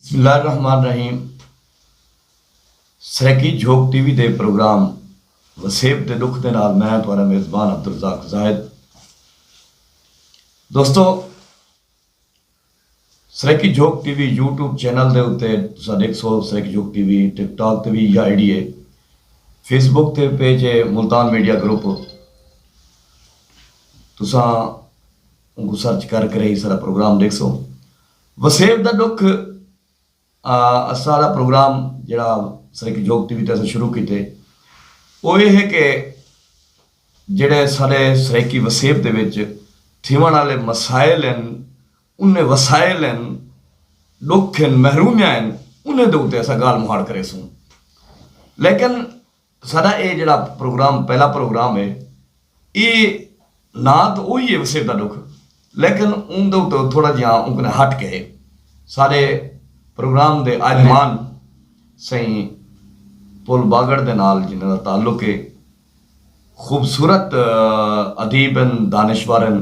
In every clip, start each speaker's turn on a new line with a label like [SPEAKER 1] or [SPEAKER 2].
[SPEAKER 1] بسم اللہ الرحمن الرحیم سرائیکی جھوک ٹی وی دے پروگرام وسیب دے ݙکھ دے نال میں ہاں تہاݙا میزبان عبدالرزاق زاہد دوستو Saraiki Jhok T V YouTube channel دے اتے تساں ݙیکھ سو سرائیکی جھوک ٹی وی ٹک ٹاک تے وی یا آئی ڈی ہے فیس بک تے پیج ہے ملتان میڈیا گروپ تساں ان کو سرچ کر کرے ہی سارا پروگرام ڈیکھ سو وسیب دا ݙکھ آ اساں دا پروگرام جیڑھا سرائیکی جھوک ٹی وی تے اساں شروع کیتے او اے ہے کہ جیڑھے ساݙے سرائیکی وسیب دے وچ تھیوݨ آلے مسائل ہن انھیں وسائل ہن ݙکھ ہن محرومیاں ہن انھیں دے اتے اساں ڳالھ مہاڑ کریسوں لیکن ساڈا اے جیڑھا پروگرام پہلا پروگرام اے اے نا تاں اوہی اے وسیب دا ڈکھ لیکن اون دے اتوں تھوڑا جیہاں اوں کنیں ہٹ کے اے۔ ساڈے پروگرام دے آئلمان سئیں پل باگڑ دے نال جنہاں دا تعلق اے خوبصورت ادیب ہن دانشور ہن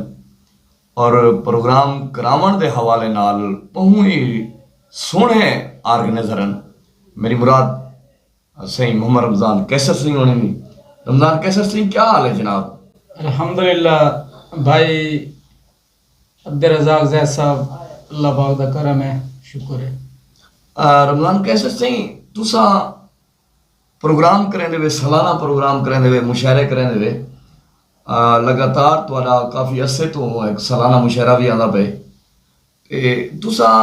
[SPEAKER 1] اور پروگرام کراون دے حوالے نال بہوں ای سوہنے آرگنیزر ہن میری مراد سئیں محمد رمضان قیصر سنگھ ہوݨیں دی رمضان قیصر سنگھ کیا حال ہے جناب؟ الحمدللہ
[SPEAKER 2] بھائی عبدالرزاق زید صاحب اللہ پاک دا کرم ہے شکر ہے۔ رمضان
[SPEAKER 1] قیصر سنگھ تساں پروگرام کریندے وے سالانہ پروگرام کریندے وے مشاعرے کریندے وے لگاتار تہاڈا کافی عرصے توں سالانہ مشاعرہ وی آندا پئے اے تساں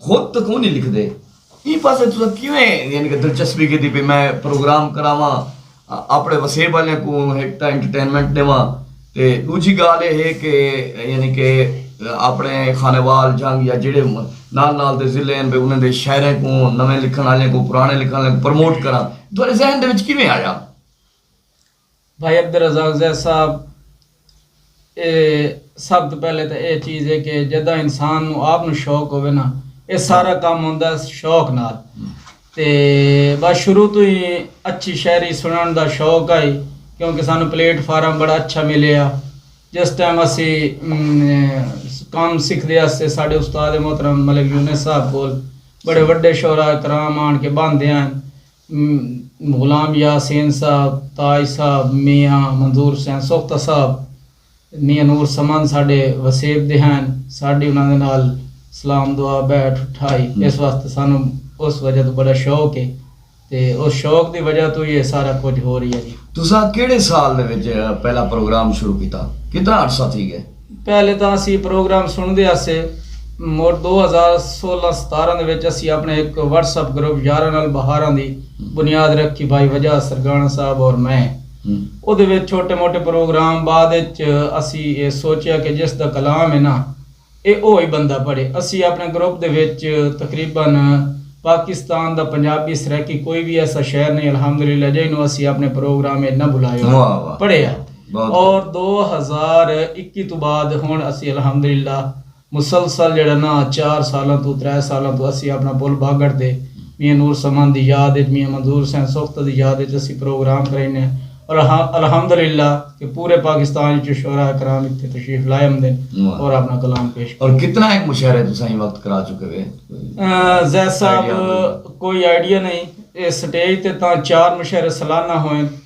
[SPEAKER 1] خود تاں کونی لکھدے ایں پاسے تساں کیویں یعنی کہ دلچسپی گھدی بھئی میں پروگرام کراواں اپنے وسیب آلیاں کوں ہک تاں انٹرٹینمنٹ ڈیواں تے ڈوجھی گالھ اے ہے کہ یعنی کہ اپنے خانیوال جھنگ یا جیڑھے نال نال دے ضلع ہن بھئی انہاں دے شاعراں کوں نویں لکھݨ آلیاں کوں پراݨے لکھݨ آلیاں کوں پروموٹ کراں تہاڈے ذہن دے وچ کیویں آیا؟
[SPEAKER 2] بھائی عبدالرزاق زید صاحب اے سب توں پہلے تاں اے چیز ہے کہ جداں انسان نوں آپ نوں شوق ہووے نا اے سارا کم ہوندا ہے شوق نال تے بس شروع توں ہی اچھی شاعری سنڑن دا شوق ہئی کیونکہ سانوں پلیٹ فارم بڑا اچھا ملیا جس ٹائم اسی کم سکھ دے اسے ساڈے استاد محترم ملک یونس صاحب کول بڑے وڈے شعرا کرام آن کے باندھے آن غلام یاسین صاحب، تاج صاحب، میاں منظور حسین سوختہ صاحب، میاں نور سمند ساڈے وسیب دے ہن، ساڈی انہاں دے نال سلام دعا بیٹھ اٹھائی اس واسطے سانو اس وجہ توں بڑا شوق ہے تے اس شوق دی وجہ توں ہی اے سارا کجھ ہو رہیا جی۔ تساں کیڑھے سال
[SPEAKER 1] دے وچ پہلا پروگرام شروع کیتا؟ کتنا عرصہ تھی گئے؟ پہلے تاں اسی
[SPEAKER 2] پروگرام سنڑدے ہاسے مڑ دو ہزار سولہ ستارہ دے وچ اسی اپنڑے ہک واٹس اپ گروپ یاراں نال بہاراں دی بنیاد رکھی بھائی وجا سرگاݨہ صاحب اور میں اودے وچ چھوٹے موٹے پروگرام بعد اچ اسی اے سوچیا کہ جس دا کلام اے نا اے او ہی بندہ پڑھے اسی اپنڑے گروپ دے وچ تقریبا پاکستان دا پنجابی سرائیکی کوئی وی ایسا شہر نئیں الحمدللہ جئیں نو اسی اپنڑے پروگرام اچ نہ بلایو پڑھے آ۔ اور دو ہزار اکی توں بعد ہنڑ اسی الحمدللہ مسلسل جیڑھا نا چار سالاں توں ترے سالاں توں اسی اپنا پل باگڑ تے میاں نور سمند دی یاد اچ میاں منظور حسین سوختہ دی یاد اچ اسی پروگرام کرائینے اور الحمدللہ کہ پورے پاکستان اچوں شعراء کرام اتھے تشریف لائے امدن اور اپنا کلام پیش کریندن۔ اور کتنا ایک مشاعرے
[SPEAKER 1] تساں ایں وقت کرا چکے وے؟ زید
[SPEAKER 2] صاحب کوئی آئیڈیا نئیں اے سٹیج تے تاں چار مشاعرے سالانہ ہوئن۔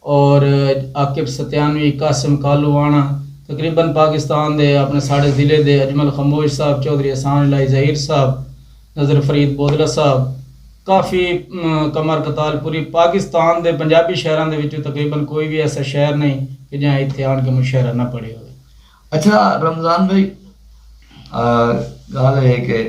[SPEAKER 2] اور عاقب ستیانوی، قاسم کالو وانا تقریبا پاکستان دے اپنے ساڑے ضلعے دے اجمل خموش صاحب، چوہدری احسان الہی ظہیر صاحب، نذر فرید بودلہ صاحب کافی کمر قتال پوری پاکستان دے پنجابی شہراں دے وچوں تقریبا کوئی وی ایسا شہر نئیں کہ جہاں ایتھے آن کے مشاعرہ نہ پڑھے ہووے۔ اچھا
[SPEAKER 1] رمضان بھائی گالھ اے ہے کہ۔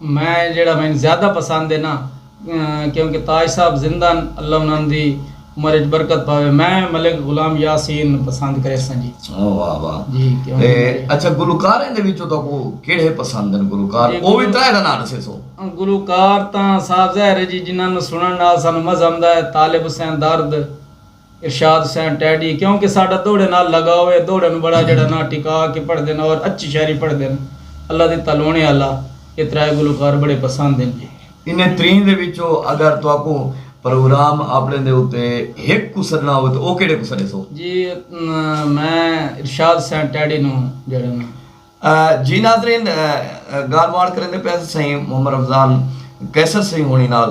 [SPEAKER 2] میں جیڑھا مینوں زیادہ پسند ہے نا کیونکہ تاج صاحب زندہ ہن اللہ انہاں دی عمر اچ برکت پاوے میں ملک غلام یاسین پسند کریساں جی واہ واہ جی
[SPEAKER 1] کیونکہ میڈے
[SPEAKER 2] اچھا
[SPEAKER 1] گلوکاراں دے وچوں تہاکوں کیڑھے پسند ہن گلوکار او وی ترے دا ناں ڈسیسو گلوکار تاں
[SPEAKER 2] صاف ظاہر ہے جی جنہاں نوں سنڑن نال سانوں مزہ آندا ہے طالب حسین درد ارشاد حسین ٹیڈی کیوں کہ ساڈا دوہڑے نال لگاؤ ہے دوہڑے نو بڑا جیڑھا نا ٹکا کے پڑھدے ہن اور اچھی شاعری پڑھدے ہن اللہ دتا لونے آلا اے ترائے گلوکار بڑے پسند ہن جی۔ انہیں تریں دے
[SPEAKER 1] وچوں اگر تہاکوں پروگرام آپنڑیں دے اتے ہک کوں سڈنا ہووے تاں او کیڑھے کوں سڈیسو؟ جی میں
[SPEAKER 2] ارشاد حسین ٹیڈی نو جیڑھا نا۔ جی ناظرین
[SPEAKER 1] گالھ ماہڑ کریندے پئے ہسیں سئیں محمد رمضان قیصر سئیں ہونی نال۔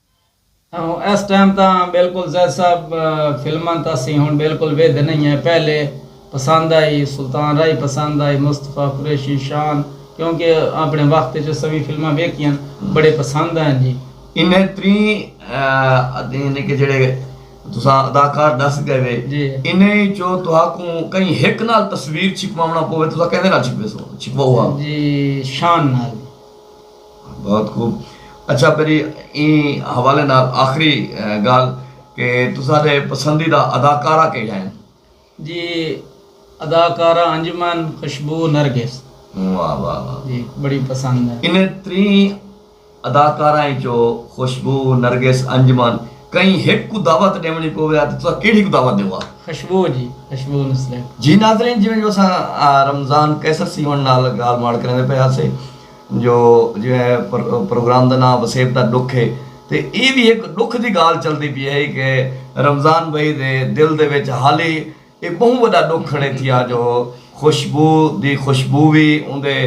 [SPEAKER 1] ایس ٹائم تاں
[SPEAKER 2] بالکل زید صاحب فلماں تاں سی ہن بالکل ویدھے نہیں ہیں پہلے پسند آئی سلطان رائی پسند آئی مصطفی قریشی شان کیونکہ اپنے وقت وچ اساں وی فلماں ویکھیاں بڑے پسند آئیں جی انہیں تریں
[SPEAKER 1] یعنی کہ جڑے تساں اداکار ڈس گئے وے جی۔ انہیں
[SPEAKER 2] چو
[SPEAKER 1] تہاکوں کہیں ہک نال تصویر چھپواونا پوے تساں کیندے نال چھپوے سو چھپواؤ ہا جی
[SPEAKER 2] شان نال
[SPEAKER 1] بہت خوب اچھا پری ایں حوالے نال آخری گالھ کہ تساڈے پسندیدہ اداکارہ کیہڑا ہن؟ جی
[SPEAKER 2] اداکارہ انجمن خوشبو نرگس واہ واہ واہ
[SPEAKER 1] جی بڑی پسند
[SPEAKER 2] ہن۔ انہیں تریں
[SPEAKER 1] اداکاراں اچوں خوشبو نرگس انجمن کہیں ہک کوں دعوت ڈیونڑی پووے ہا تے تساں کیہڑی کوں دعوت ڈیو ہا؟ خوشبو جی
[SPEAKER 2] خوشبو نو سلیکٹ۔ جی ناظرین جیویں
[SPEAKER 1] جو اساں رمضان قیصر سی ہن نال گالھ ماڑ کریندے پئے ہاسے۔ جو جیویں اے پروگرام دا ناں وسیب دا ڈکھ اے تے اے وی ہک ڈکھ دی گالھ چلدی پی ہئی کہ رمضان بھائی دے دل دے وچ حالی اے بہوں وڈا ڈکھ کھڑے تھیا جو خوشبو دی خوشبو وی اوندے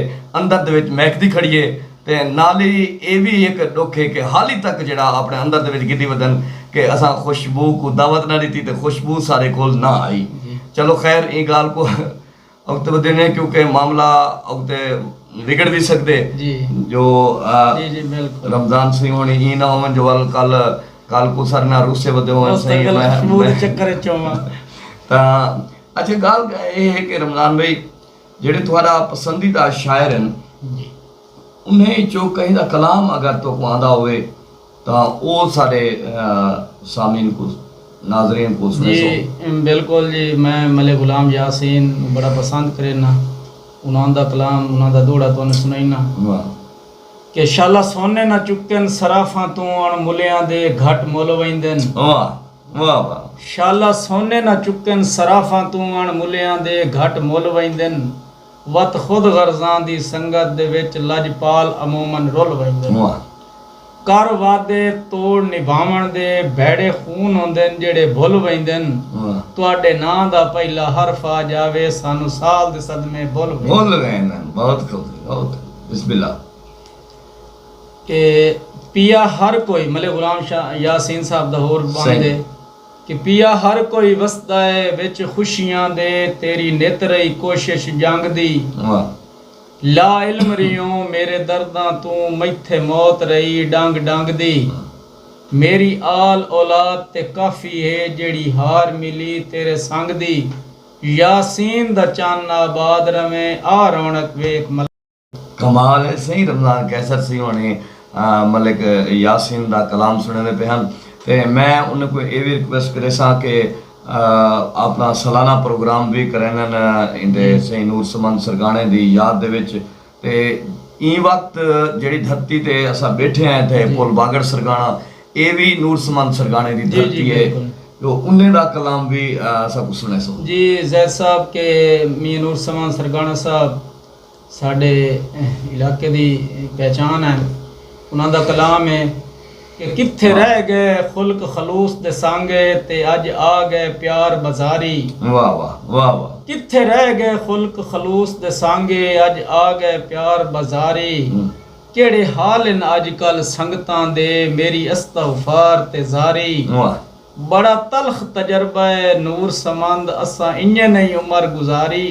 [SPEAKER 1] اندر دے وچ مہکدی کھڑی اے تے نال ای اے وی ہک ڈکھ اے کہ حالی تک جیڑھا اپنے اندر دے وچ گھدی ودن کہ اساں خوشبو کوں دعوت نہ ڈتی تے خوشبو سارے کول نہ آئی چلو خیر ایں گالھ کوں وقت ودینے کیونکہ معاملہ اگتے وگڑ وی سگدے جو
[SPEAKER 2] رمضان سئیں ہونی ایں
[SPEAKER 1] نہ ہوون جو ول کل کل کوں ساڈے نال روسے ودے ہوون سئیں
[SPEAKER 2] تاں
[SPEAKER 1] اچھا گال اے ہے کہ رمضان بھئی جیڑھے تہاڈا پسندیدہ شاعر ہن انہیں چوں کہیں دا کلام اگر تو کو آندا ہووے تاں او ساڈے سامعین کوں ناظرین کوں سنڑیسوں۔ جی بالکل جی
[SPEAKER 2] میں ملک غلام یاسین نو بڑا پسند کرینا انہاں دا کلام انہاں دا دوہڑا تہانوں سنڑینا
[SPEAKER 1] کہ
[SPEAKER 2] شالا سونے نہ چکن صرافاں توں اݨ ملیاں دے گھٹ مل ویندن
[SPEAKER 1] شالا سونے
[SPEAKER 2] نہ چکن صرافاں توں اݨ ملیاں دے گھٹ مل ویندن۔ وت خود غرضاں دی سنگت دے وچ لجپال عموما رل ویندے ہن۔
[SPEAKER 1] کر
[SPEAKER 2] وعدے توڑ نبھاوݨ دے بھیڑے خون ہوندن جیڑھے بھل ویندن۔ تہاڈے ناں دا پہلا حرف آ جاوے سانوں سال دے صدمے بھل ویندن۔ بہت خوبصورت
[SPEAKER 1] بہت خوبصورت بسم اللہ۔
[SPEAKER 2] اے پیا ہر کوئی ملے غلام شاہ یاسین صاحب دا ہور بݨ دے۔ کہ پیا ہر کوئی وسدا اے وچ خوشیاں دے تیری نت رہی کوشش جنگ دی
[SPEAKER 1] لا
[SPEAKER 2] علم ریہوں میرے درداں توں میتھے موت رہی ڈنگ ڈنگ دی میری آل اولاد تے کافی ہے جیڑھی ہار ملی تیرے سنگ دی یاسین دا چن آباد رہویں آ رونق ویکھ ملنگ کمال
[SPEAKER 1] ہے سئیں رمضان قیصر سی ہوݨی ملک یاسین دا کلام سݨیندے پئے ہن تے میں انہاں کوں اے وی ریکویسٹ کریساں کہ آپݨا سالانہ پروگرام وی کرینن ایندے سئیں نور سمند سرکاݨے دی یاد دے وچ تے ایں وقت جیڑھی دھرتی تے اساں ٻیٹھے ہیں اتھے پل باگڑ سرکاݨا اے وی نور سمند سرکاݨے دی دھرتی ہے جو انہیں دا کلام وی اساں کوں سݨیسو۔ جی زید صاحب
[SPEAKER 2] کہ میاں نور سمند سرکاݨہ صاحب ساݙے علاقے دی پہچان ہن۔ انہاں دا کلام ہے کہ کتھے رہ ڳئے خلق خلوص دے سانگے تے اڄ آ ڳئے پیار بزاری۔
[SPEAKER 1] کتھے رہ ڳئے
[SPEAKER 2] خلق خلوص دے سانگے اڄ آ ڳئے پیار بزاری۔ کیڑھے حال ہن اڄ کل سنگتاں دے میݙی استغفار تے زاری۔
[SPEAKER 1] بڑا تلخ
[SPEAKER 2] تجربہ ہے نور سمند اساں انڄے نئیں عمر گزاری۔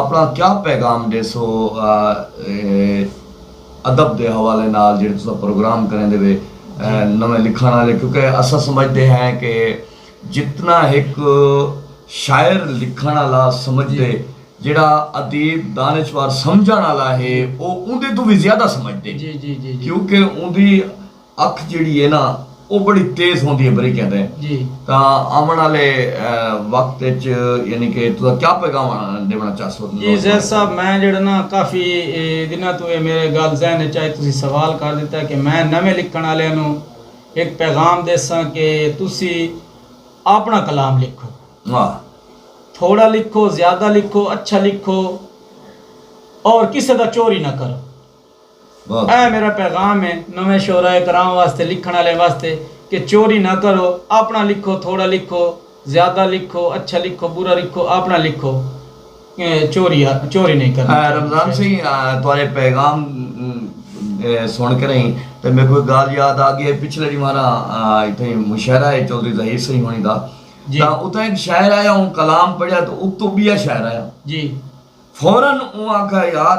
[SPEAKER 1] اپݨا کیا پیغام ݙیسو ادب دے حوالے نال جیڑھے تساں پروگرام کریندے وے نویں لکھݨ آلے کیونکہ اساں سمجھدے ہیں کہ جتنا ہک شاعر لکھݨ آلا سمجھدے جیڑھا ادیب دانشور سمجھݨ آلا ہے او اوندے توں وی زیادہ سمجھدے کیونکہ
[SPEAKER 2] اوندی
[SPEAKER 1] اکھ جیڑھی اے نا او بڑی تیز ہوندی اے بریکیں تے تاں
[SPEAKER 2] آوݨ
[SPEAKER 1] آلے وقت اچ یعنی کہ تساں کیا پیغام ݙیوݨا چاہسو نوجواناں کوں؟ جی زید صاحب میں
[SPEAKER 2] جیڑھا نا کافی دناں توں اے میرے گالھ ذہن اچ آئی تسیں سوال کر ݙتا کہ میں نویں لکھݨ آلیاں نوں ہک پیغام ݙیساں کہ تسیں آپݨا کلام لکھو
[SPEAKER 1] تھوڑا
[SPEAKER 2] لکھو زیادہ لکھو اچھا لکھو اور کسے دا چوری نہ کرو۔ اے میڈا پیغام ہے نویں شعراء کرام واسطے لکھن آلیاں واسطے کہ چوری نہ کرو آپنڑاں لکھو تھوڑا لکھو زیادہ لکھو اچھا لکھو برا لکھو آپنڑاں لکھو چوری چوری نہیں کرنی چاہیدی۔ رمضان سئیں
[SPEAKER 1] تہاڈے پیغام سن کرئیں تے میکوں ہک گالھ یاد آگئی اے پچھلے ڈینہواں نا اتھئیں مشاعرہ اے چوہدری ظہیر سئیں ہونیں دا تاں اتھاں ہک شاعر آیا اوں کلام پڑھیا تاں اتوں بیا شاعر آیا
[SPEAKER 2] فورا اوں
[SPEAKER 1] آکھیا یار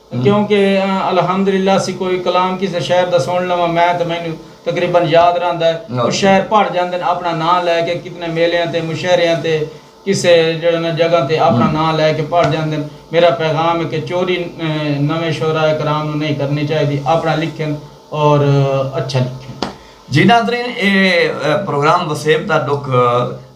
[SPEAKER 2] کیوں کہ الحمد للہ سی کوئی کلام کسے شہر دا سن لواں میں تاں مینوں تقریبا یاد رہندا ہے او شہر پڑھ جاندن اپنا ناں لے کے کتنے میلیاں تے مشاعریاں تے کسے جیڑھے نا جگہ تے اپنا ناں لے کے پڑھ جاندن میرا پیغام ہے کہ چوری نویں شعراء کرام نوں نہیں کرنی چاہیدی اپنا لکھن اور اچھا لکھن۔ جی ناظرین
[SPEAKER 1] اے پروگرام وسیب دا ڈکھ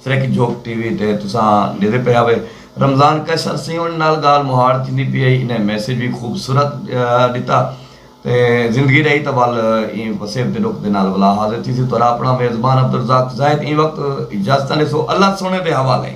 [SPEAKER 1] سرک جھوک ٹی وی تے تساں ڈیدے پئے ہاوے رمضان کش ارسیں انج نال گال مہاڑ تھیندی پی ہئی انہیں میسج وی خوبصورت ڈتا تے زندگی رہی تاں ول ایں وسیب دے ڈکھ دے نال ولا حاضر تھیسی تہاڑا اپنا میزبان عبدالرزاق زاہد ایں وقت اجازتاں ڈیسو اللہ سونے دے حوالے۔